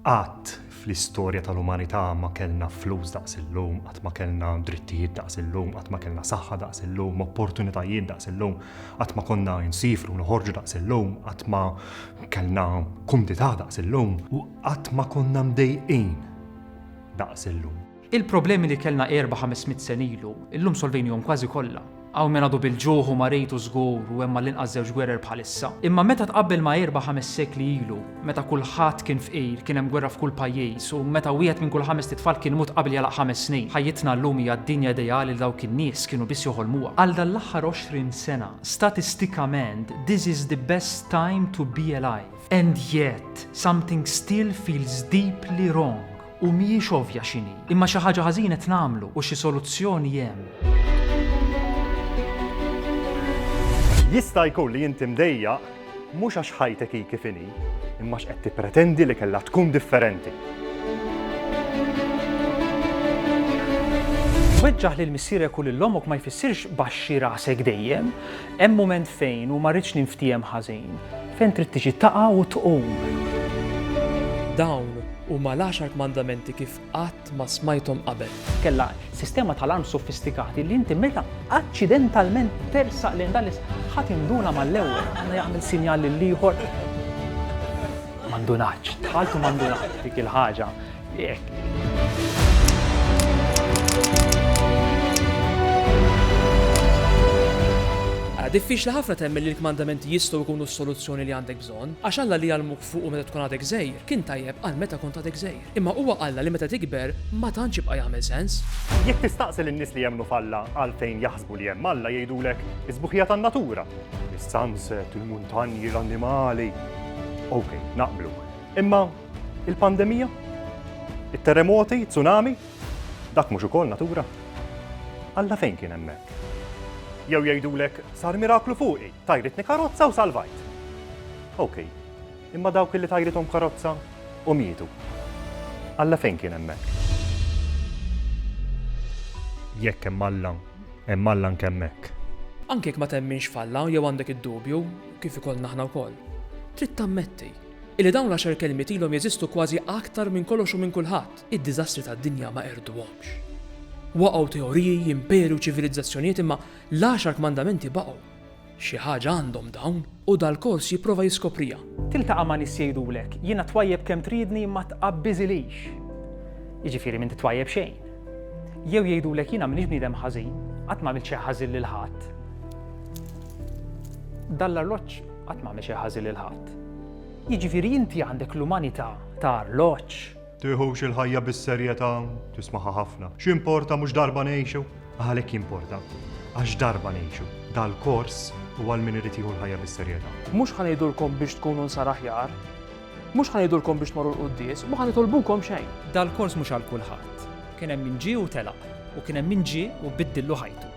Qatt fl-istorja tal-umanità ma kellna flus daqs illum, qatt ma kellna drittijiet daqs illum, qatt ma kellna saħħa daqs illum, opportunitajiet daqs illum, qatt ma konna nsiefru noħorġu daqs illum, qatt ma kellna kumdità daqs illum, u qatt ma konna mdejqin daqs illum. Il-problemi li kellna erba' ħames mitt sena ilu, illum solvejnihom kważi kollha. Hawn min għadu bil-ġuħ u marid u żgur u hemm għall-inqas żewġ gwerer bħalissa. Imma meta tqabbel ma' erba' ħames sekli ilu, meta kulħadd kien fqir, kien hemm gwerra f'kull pajjiż u meta wieħed minn kull ħamest itfal kien imut qabel jagħlaq ħames snin, ħajjitna llum hija d-dinja ideali li dawk in-nies kienu biss joħolmuha. Għal dan l-aħħar għoxrin sena, statistikament, this is the best time to be alive. And yet, something still feels deeply wrong. U mhijiex ovvja x'inhi, imma xi ħaġa ħażin qed nagħmlu u xi soluzzjoni hemm. Jista' jkun li inti mdejjaq mhux għax ħajtek hi kif inhi, imma għax qed tippretendi li kellha tkun differenti. Weġġaħ lil missierek u lil ommok ma jfissirx baxxi rasek dejjem. Hemm mument fejn, u ma rridx ninftiehem ħażin, fejn trid tiġi taqa' u tqum. Dawn huma l-għaxar kmandamenti kif qatt ma smajthom qabel. Kellha sistema ta' alarm sofistikati li inti meta aċċidentalment tersaq lejn dan l-is ħa tinduna mal-ewwel. Għandha jagħmel sinjal lill-ieħor. Ma ndunatx. Dħalt u ma ndunatx. Dik il-ħaġa. Diffiċli ħafna temmen li l-kmandamenti jistgħu jkunu s-soluzzjoni li għandek bżonn, għax Alla li jgħallmuk fuqu meta tkun għadek żgħir, kien tajjeb għal meta kont għadek żgħir. Imma huwa Alla li meta tikber ma tantx jibqa' jagħmel sens. Jekk tistaqsi lin-nies li jemmnu f'Alla għalfejn jaħsbu li hemm Alla jgħidulek is-sbuħija tan-natura, is-sunset, il-muntanji, l-annimali. Okej, naqblu. Imma Il-pandemija? It-terremoti, tsunami? Dak mhux ukoll natura? Alla fejn kien hemmhekk? Jew jgħidulek sar miraklu fuqi, tajritni karozza u salvajt. Ok, imma dawk li tajrithom karozza u mietu. Alla fejn kien hemmhekk? Jekk hemm Alla, hemm Alla anke hemmhekk. Anke jekk ma temminx f'Alla jew għandek id-dubju, kif ikollna aħna wkoll, trid tammetti Illi dawn l-għaxar kelmiet ilhom jeżistu kważi aktar minn kollox u minn kulħadd, id-diżastri tad-dinja ma qerduhomx. Waqgħu teoriji, imperi u ċivilizzazzjonijiet imma l-għaxar kmandamenti baqgħu. Xi ħaġa għandhom dawn u dal-kors jipprova jiskopriha. Tiltaqa' ma' nies jgħidulek, jiena twajjeb kemm tridni imma tqabbiżilix. Jiġifieri m'inti twajjeb xejn. Jew jgħidulek jiena m'iniex bniedem ħażin, qatt m'għamilt xejn ħażin lil ħadd. Dan l-arloġġ Qatt m'għamel xejn ħażin lil ħadd. Jiġifieri inti għandek l-umanità ta' arloġġ? Tiħux il-ħajja bis-serjetà, tismagħha ħafna. X'importa mhux darba ngħixu? Għalhekk jimporta. Għax darba ngħixu. Dal-kors huwa għal min irid jieħu l-ħajja bis-serjetà. Mhux ħa ngħidulkom biex tkunu nsara aħjar, mhux ħa ngħidulkom biex tmorru l-quddies u ma ħa nitolbukom xejn. Dal-kors mhux għal kulħadd. Kien hemm min ġie u telaq, u kien hemm min ġie u biddillu ħajtu.